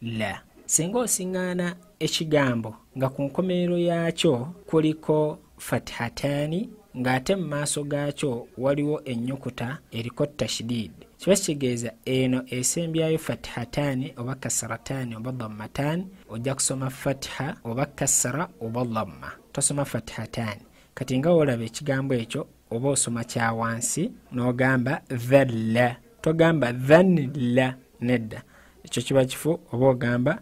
la singa osiŋŋaana ekigambo nga ku nkomerero yaakyo kuliko fatihataani ng'ate mu maaso gaakyo waliwo ennyukuta eriko tashidid kiba kitegeeza eno esembyayo fatihataani oba kasarataani oba dammataani ojja kusoma fatiha oba kasara oba damma tosoma fatihataani kati nga wolaba ekigambo ekyo oba osoma kyawansi n'ogamba the la togamba then la nedda ekyo kiba kifu oba ogamba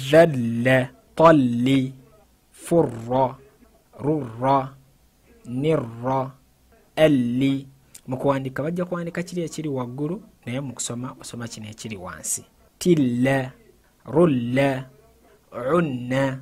the la tolli furra rurra nirra elli mu kuwandiika bajja kuwandiika kiri ekiri waggulu naye mu kusoma osoma kino ekiri wansi tilla rulla unna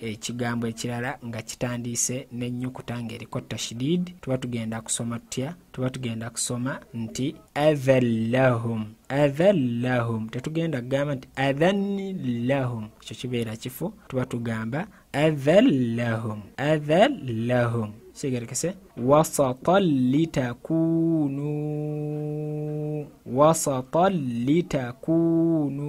ekigambo ekirala nga kitandiise n'ennyukuta ng'eriko tashidid tuba tugenda kusoma tutya tuba tugenda kusoma nti adhan lahum adhan lahum tetugenda kugamba nti adhan lahum ekyo kibeera kifu tuba tugamba adhan lahum adhan lahum sigerekese wasatan litakunu wasatan litakunu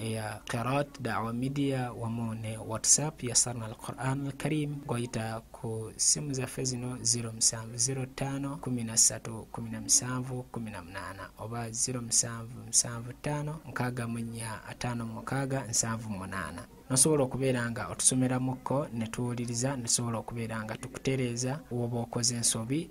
ya Qiraat Dawa Media wamu ne WhatsApp ya Sarna al Quran al Karim goyita ku simu zaffe zino 0705131718 oba 07755657 nosobola okubeera nga otusomeramuko netuwuliriza nesobola okubeera nga tukutereeza woba okoze ensobi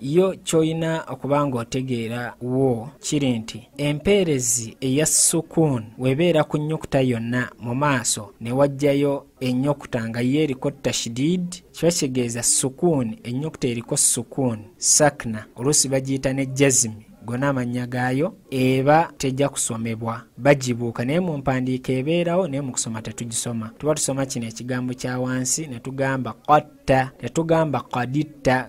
yo kyolina okuba ng'otegeera wo kiri nti empeerezi eya sukuun webeera ku nnyukuta yonna mu maaso ne wajjayo ennyukuta nga yo eriko tashidid kiba kitegeeza sukuun ennyukuta eriko sukuun sakna oluusi bagiyita ne jazimi gona amannya gaayo eba tejja kusomebwa bagibuuka naye mu mpandiika ebeerawo naye mu kusoma tetugisoma tuba tusoma kino ekigambo kya wansi ne tugamba qatta tetugamba qaditta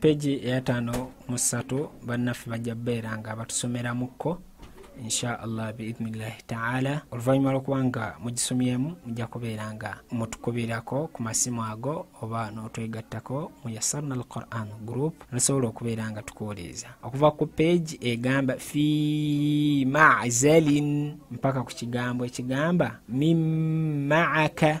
peji eyataano mu ssatu bannaffe bajja beera nga batusomeramukko insha allah biidhnillahi taala oluvannyuma lwokuba nga mugisomyemu mujja kubeera nga mutukubirako ku masimu ago oba n'otwegattako mu yasarna al quran group nosobola okubeera nga tukuwuliriza okuva ku peegi egamba fi mazalin mpaka ku kigambo ekigamba mimaaka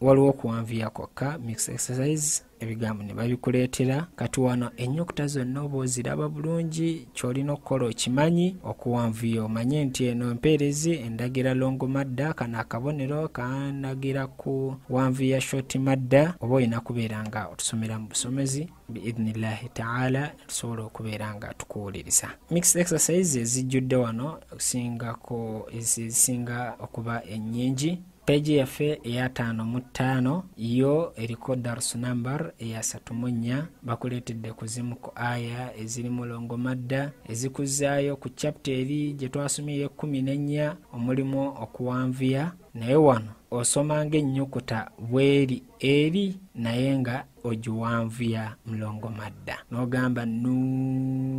waliwo okuwanvuya kwokka mix exercise ebigambo ne babikuleetera kati wano ennyukuta zonna oba oziraba bulungi ky'olina okukola okimanyi okuwanvuya omanye nti eno empeerezi endagira longo madda kano akabonero kanagira ku wanvuya shoti madda oba olina kubeera nga otusomera mu busomezi biidnillahi taala tusobola okubeera nga tukuwuliriza mix exercise ezijjudde wano okusingako ezisinga okuba ennyingi peegi yaffe eyataano mu ttaano yo eriko darsu nambar eyasatu mu nnya bakuleetedde ku zimu ku aya eziri mulongo madda ezikuzzaayo ku capita eri gye twasomye ey'ekkumi n'ennya omulimu okuwanvuya naye wano osoma ng'ennyukuta bweri eri naye nga ogiwanvuya mulongo madda n'ogamba nuun